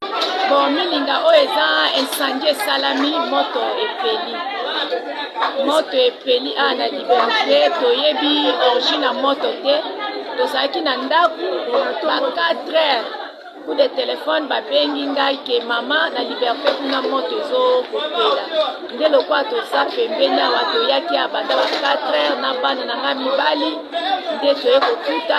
Bon, milinga oyo eza incendie esalami moto epeli moto epeli a na liberte toyebi origine ya moto te tozalaki na ndako ba 4 heures coup de telefone babengi ngai ke mama na liberte kuna moto ezokopela nde lokola toza pembeni awa toyaki abanda ba 4 heures na bana na ngai mibali nde toye kokuta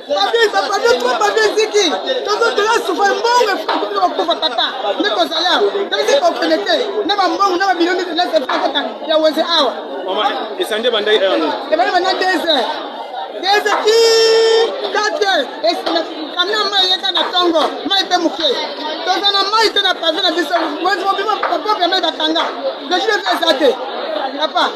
Babi, babi, trop babi ziki. Tozo tola soufa mbongo efuku bino bakufa tata. Ne kozala. Tele se kokende te. Na ba mbongo na ba bino ni tele se tata. Ya weze awa. Mama, esande bandai awa. Ebale bana deze. Deze ki kate. Esande kamna mai yeka na tongo. Mai pe muke. Toza na mai te na pave na biso. Weze mobima papa pe mai bakanga. Deshi de zate. Papa.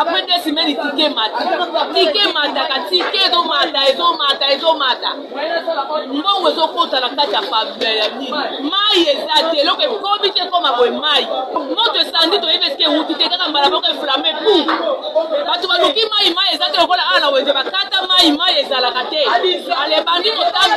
après deux semaines tike emata tike emataka tike ezomata ezomata ezomata mbongo ezokota na kati ya pavile ya nini mai eza te eloko ekomi te ekoma boye mai moto esandi toyebi esike ewuti te kaka mbala moko eflame pu bato baluki mai mai eza te lokola awa na wenze bakata mai mai ezalaka te alebandi kotambola